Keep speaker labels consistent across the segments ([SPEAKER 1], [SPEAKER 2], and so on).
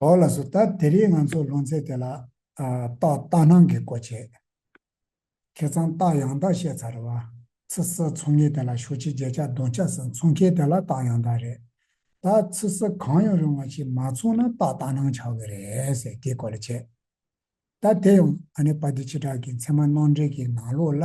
[SPEAKER 1] བོགས་ལ་སོ་ད་དེ་རིང་ང་ཚོ་ལུང་ཚན་དེ་ལ་རྟགས་རྟགས་སྣང་གི་གོ་བྱེད། ཁེ་ཚང་རྟགས་ཡང་རྟགས་བཤད་ཚར་རེད་བ། ཚི་སི་ཚོང་ངེ་དེ་ལ་ཞོ་ཆི་རྗེ་ཆ་གདོང་ཆ་སི་འཚོང་མཁན་དེ་ལ་རྟགས་ཡང་རྟགས་རེད། ད་ཚི་སི་གང་ཡང་རུང་བ་ཞིག་མ་འཚོང་ན་རྟགས་རྟགས་སྣང་ཆགས་གི་རེད་ཟེར་དེ་གོ་ལ་བྱེད། ད་དེ་ཡང་ཨ་ནེ་པ་ཏི་ཆི་དྲག་གི་མཚན་མ་སྣང་འགྲེལ་གྱི་ནང་ལོགས་ལ་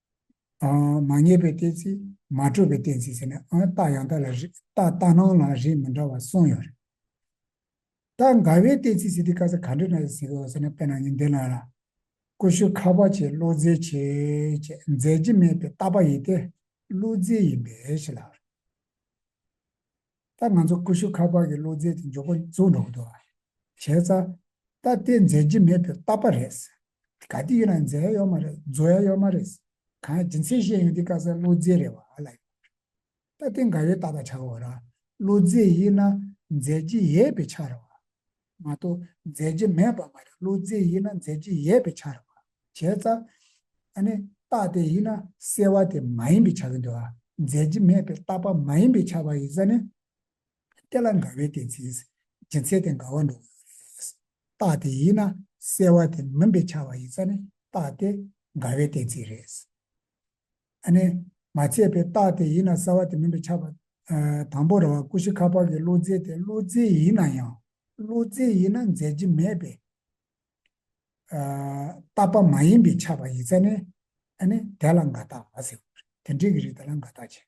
[SPEAKER 1] མ་ངེས་པའི་གཏན་ཚིགས་མ་གྲུབ་པའི་གཏན་ཚིགས་ཟེར་ནས་ཨང་རྟགས་ཡང་དག་ལ་རེ་རྟགས་ལྟ་སྣང་ལ་རེ་མི་འདྲ་བ་གསུངས་ཡོད་རེད། ད་འགའ་བའི་གཏན་ཚིགས་ཟེར་དུས་བཀའ་ས་ག་འདྲི་ན་ཟེར་གི་འོ་ཟེར་ན་དཔེ་ནང་ཉིན་དེ་ལ་ལ། ཀུ་ཤུ་ཁ་བ་ཆེ་བློ་རྫེ་ཆེ་ཅེས་མཛད་རྗེས་མེད་པའི་ལྟ་བ་ཡིན་ཏེ། བློ་རྫེ་ཡིན་པས་ཞེས་ལབ་རེད། ད་ང་ཚོ་ཀུ་ཤུ་ཁ་བ་གི་བློ་རྫེ་དེ་མགྱོགས་པོ་བཙུགས་འགྲོ་གི་འདུག་བྱས་ཙང། ད་དེ་མཛད་རྗེས་མེད་པའི་ལྟ་བ་རེད་ཟེར། ག་དེ་ཡོད་ན་མཛའ་ཡ་ཡོད་མ་རེད་མཛོ་ཡ་ཡོད་མ་རེད། གང་སྦྱིན་སྲེག་བཤད་ཡོང་དེ་ཀ་ས་བློ་རྫས་རེད་བ་ལ་ཡོད་ད་དེ་འགའ་ཡོད་ད་ད་ཆ་བོ་ར་བློ་རྫས་ཡིན་ན་མཛའ་རྗེ་ཡས་པའི་ཆ་རེད་བ། མ་གཏོགས་མཛའ་རྗེ་མེད་པ་མ་རེད་བློ་རྫས་ཡིན་ན་མཛའ་རྗེ་ཡས་པའི་ཆ་རེད་བ་བྱས་ཙ། ཨ་ནི་རྟགས་དེ་ཡིན་ན་སེལ་བ་དེ་མ་ཡིན་པའི་ཆ་གི་འདུག་ཨ་མཛའ་རྗེ་མེད་པའི་རྟགས་པ་མ་ཡིན་པའི་ཆ་བ་ཡིན་ཙ་ནི། དེ་ལ་འགལ་བའི་གཏན་ཚིགས་སྦྱིན་ཚད་དེ་འགལ་བ་འགྲོ་གི་ཡོད་རེད། རྟགས་དེ་ཡིན་ན་གསལ་བ་དེ་མིན་པའི་ཆ་བ་ཡིན་ས་ནི་རྟགས་དེ་འགལ་བའི་གཏན་ཚིགས་རེད། ཨ་ནི། མ་ཚད་པའི་རྟགས་དེ་ཡིན་ན་གསལ་བ་དེ་མིན་པའི་ཆ་བ། དང་པོ་ར་བ་ཀུ་ཤི་ཁ་པར་གྱི་བློ་རྫས་དེ་བློ་རྫས་ཡིན་ན་ཡང་བློ་རྫས་ཡིན་ན་འཛད་ཀྱི་མེད་པས། རྟགས་པ་མ་ཡིན་པའི་ཆ་བ་ཡིན་ས་ནི། ཨ་ནི། དེ་ལ་འགལ་རྟགས་མ་ཟེར་བ་རེད། དེ་འདྲའི་གི་རིགས་དེ་ལ་འགལ་རྟགས་བྱེད།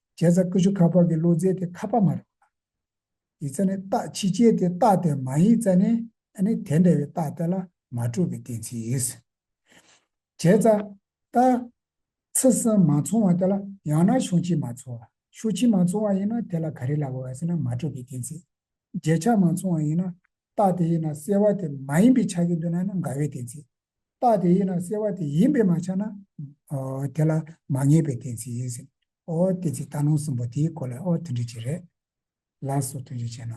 [SPEAKER 1] བྱས་ཙང་ཀུ་ཤུ་ཁ་པར་གྱི་བློ་རྩལ་དེ་ཁ་པར་མ་རེད། ཡིག་རྩ་ནི་རྟགས་ཕྱི་རྒྱལ་ཏེ་རྟགས་དེ་མ་ཡིག་རྩ་ནི་ནི་དེ་འདྲ་བའི་རྟགས་དེ་ལ་མ་གྲུབ་པའི་གཏན་ཚིགས། བྱས་ཙང་རྟ། ཚི་སིམ་མ་ཚོང་བ་དེ་ལ་ཡང་ན་ཤོ་ཆིམ་མ་ཚོང་བ་ཤོ་ཆིམ་མ་ཚོང་བ་ཡིན་ན་དེ་ལ་ག་རེ་ལབ་བ་ཟེར་ན་མ་གྲུབ་པའི་གཏན་ཚིགས། རྗེས་ཆགས་མ་ཚོང་བ་ཡིན་ན་རྟགས་དེ་ཡིན་ན་གསལ་བ་དེ་མ་ཡིན་པའི་ཆགས་ཀྱི་འདུག་ན་ནི་འགལ་བའི་གཏན་ཚིགས། རྟགས་དེ་ཡིན་ན་གསལ་བ་དེ་ཡིན་པས་མ་ཆགས་ན། དེ་ལ་མ་ངེས་པའི་གཏན་ཚིགས་ཡིན་ཟེར། ཨོ་གཏན་ཚིགས་རྟགས་ལུང་གསུམ་པོ་དེའི་སྐོར་ལ་ཨོ་མཐུན་སྒྲིལ་བྱེད་རེད། ལ་སོགས་མཐུན་སྒྲིལ་བྱས་ན།